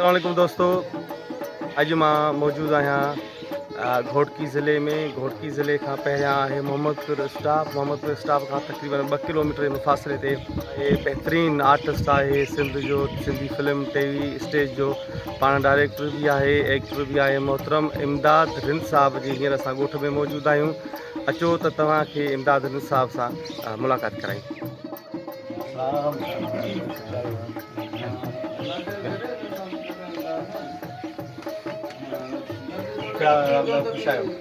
عليڪم دوستو اڄ مان موجود آهيان گھوٽڪي ضلعي ۾ گھوٽڪي ضلعي کان پهريان آهي محمد پور اسٽاپ محمد پور اسٽاپ کان تقريبن ٻه ڪلوميٽر جي مفاصلي تي بهترين آرٽسٽ آهي سنڌ جو Sindhi film T V stage جو پاڻ ڊائريڪٽر به آهي ايڪٽر به آهي محترم امداد رند صاحب جي هينئر اسان ڳوٺ ۾ موجود آهيون اچو ته توهان کي امداد رند صاحب سان ملاقات ڪرايون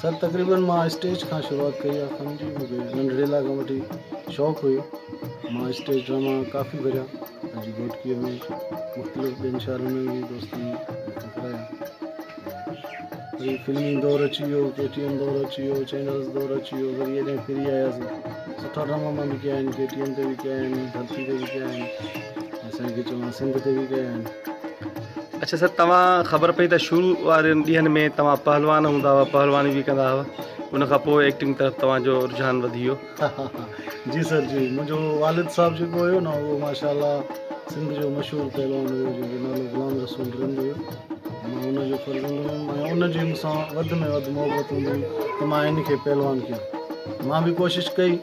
سر تقريبن مان اسٽيج کان شروعات ڪئي آ ڪم جي مونکي ننڍڙي لا کان وٺي شوق ھيو مان اسٽيج ڊراما ڪافي ڪريا پنھنجي گھوٽڪي ۾ مختلف ٻين شھرن ۾ به دوستن مونکي ڪرايا وري فلمي دور اچي ويو ڪي ٽي ايم دور اچي ويو چينلز دور اچي ويو وري ايڏانھن ڦري آياسين سٺا ڊراما مان به ڪيا آھن ڪي ٽي ايم تي به ڪيا آھن ڌرتي تي به ڪيا آھن اسان کي چوان سنڌ تي به ڪيا آھن اڇا سر توهان خبر پئي ته شروع وارن ڏينهن ۾ توهان پهلوان هوندا هئا پهلواني به ڪندا هئا ان کان پوء ايڪٽنگ طرف توهان جو رجحان وڌي ويو جي سر جي منهنجو والد صاحب جيڪو هيو نه اهو ماشاء الله سنڌ جو مشهور پهلوان هيو جنهنجو نالو غلام رسول رند هيو مان ان جو فرزند هيم ۽ ان جي مون سان وڌ ۾ وڌ محبت هوندي هئي ته مان هن کي پهلوان ڪيان مان به ڪوشش ڪئي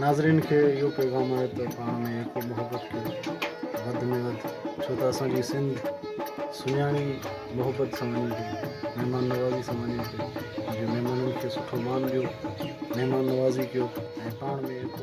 ناظرين کي اهو پيغام آهي ته پاڻ ۾ ايڪو محبت ڪيو وڌ ۾ وڌ ڇو ته اسان جي سنڌ سڃاڻي محبت سان وڃي ٿي مهمان نوازي سان وڃي ٿي مهمانن کي سٺو مان ڏيو مهمان نوازي ڪيو ۽ پاڻ ۾ ايڪو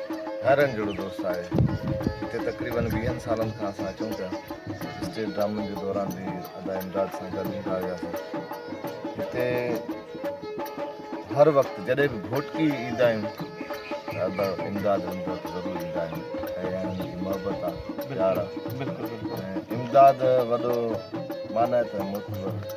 حيران جهڙو دوست آهي جتي تقريبن ويهن سالن کان اسان اچون پيا اسٽيج ڊرامن جي دوران به ادا امداد سان گڏ ايندا هياسين هتي هر وقت جڏهن به گهوٽڪي ايندا آهيون ته ادا امداد امداد ضرور ايندا آهن ۽ انهن جي محبت آهي پيار آهي امداد وڏو معنيٰ ته مطلب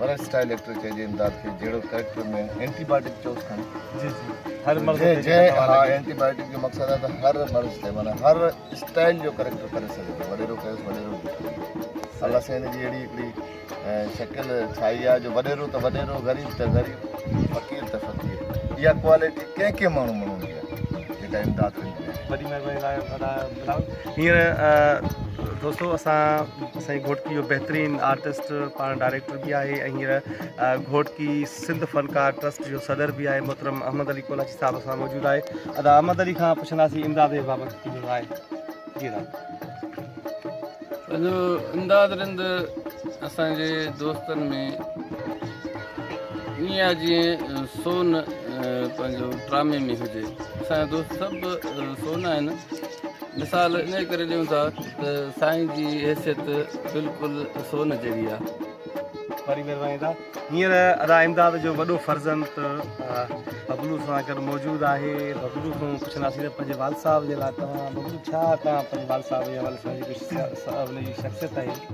ورق سٽائل ايڪٽر چئجي امداد کي جهڙو ڪريڪٽر ۾ اينٽي بايوٽڪ چئوس کڻي جي جي هر مرض جي جي ها اينٽي بايوٽڪ جو مقصد آهي ته هر مرض تي معنی هر سٽائل جو ڪريڪٽر ڪري سگهي ٿو وڏيرو ڪيس وڏيرو جو ڪري الله سين جي اهڙي هڪڙي شڪل ڇائي آهي جو وڏيرو ته وڏيرو غريب ته غريب فقير ته فقير اها ڪوالٽي ڪنهن ڪنهن ماڻهو ماڻهو جي جيڪا امداد ڪندي وڏي مهرباني لاء ھينئر دوستو اسان اسانجي گھوٽڪي جو بهترين آرٽسٽ پاڻ ڊائريڪٽر به آهي ۽ ھينئر گھوٽڪي سنڌ فنڪار ٽرسٽ جو صدر به آهي محترم احمد علي ڪولاچي صاحب اسان موجود آهي ادا احمد علي کان پڇنداسين امداد بابت ڪجهه راء جي ادا پنهنجو امداد رند اسانجي دوستن ۾ ائين آ جيئن سون پنهنجو ڊرامي ۾ هجي اسان جا دوست سڀ سون آهن مثال انهي ڪري ڏيون ٿا ته سائين جي حيثيت بلڪل سون جهڙي آ واري مهرباني دا هينئر ادا امداد جو وڏو فرزند ببلو سان گڏ موجود آهي ببلو کان پڇنداسين ته پنهنجي والد صاحب جي لاء توهان ببلو ڇا توهان پنهنجي والد صاحب جي حوالي سان جيڪو شخصيت آهي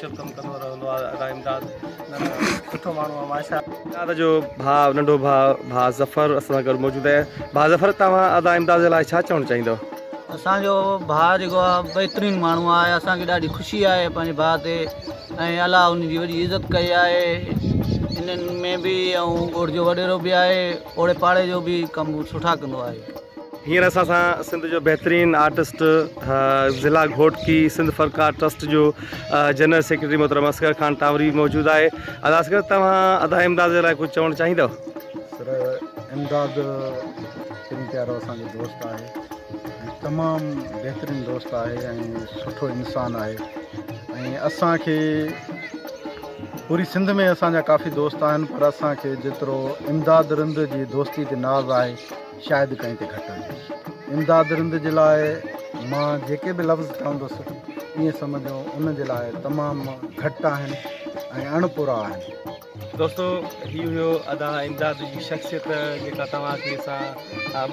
شپ ڪم ڪندو رهندو آ ادا امداد سٺو ماڻهو آ ماشا امداد جو ڀاء ننڍو ڀاء ڀاء ظفر اسان سان گڏ موجود آهي ڀاء ظفر توهان ادا امداد جي لاء ڇا چوڻ چاهيندو اسان جو ڀاء جيڪو آ بهترين ماڻهو آ اسان کي ڏاڍي خوشي آهي پنهنجي ڀاء تي ۽ الله ان جي وڏي عزت ڪئي آهي انهن ۾ به ۽ ڳوٺ جو وڏيرو به آهي اوڙي پاڙي جو به ڪم سٺا ڪندو آهي هينئر اسان سان سنڌ جو بهترين آرٽسٽ ضلع گهوٽڪي سنڌ فنڪار ٽرسٽ جو جنرل سيڪريٽري محترم اصغر خان ٽاوري موجود آهي ادا اصغر توهان ادا امداد جي لاء ڪجهه چوڻ چاهيندو سر امداد تن پيارو اسان جو دوست آهي تمام بهترين دوست آهي ۽ سٺو انسان آهي ۽ اسان کي پوري سنڌ ۾ اسان جا ڪافي دوست آهن پر اسان کي جيترو امداد رند جي دوستي تي ناز آهي شايد ڪنهن تي گهٽ آهي. امداد رند جي لاء مان جيڪي به لفظ چوندس ائين سمجهو ان جي لاء تمام گهٽ آهن ۽ اڻ پورا آهن. دوستو هي هيو ادا امداد جي شخصيت جيڪا توهان کي اسان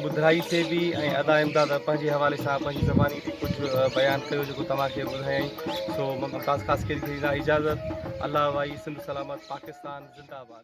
ٻڌرائي سي به ۽ ادا امداد پنهنجي حوالي سان پنهنجي زباني تي ڪجهه بيان ڪيو جيڪو توهان کي ٻڌايائين سو ممتاز خاصخيلي کي ڏيندا اجازت الله وائي سنڌ سلامت پاڪستان زنده آباد.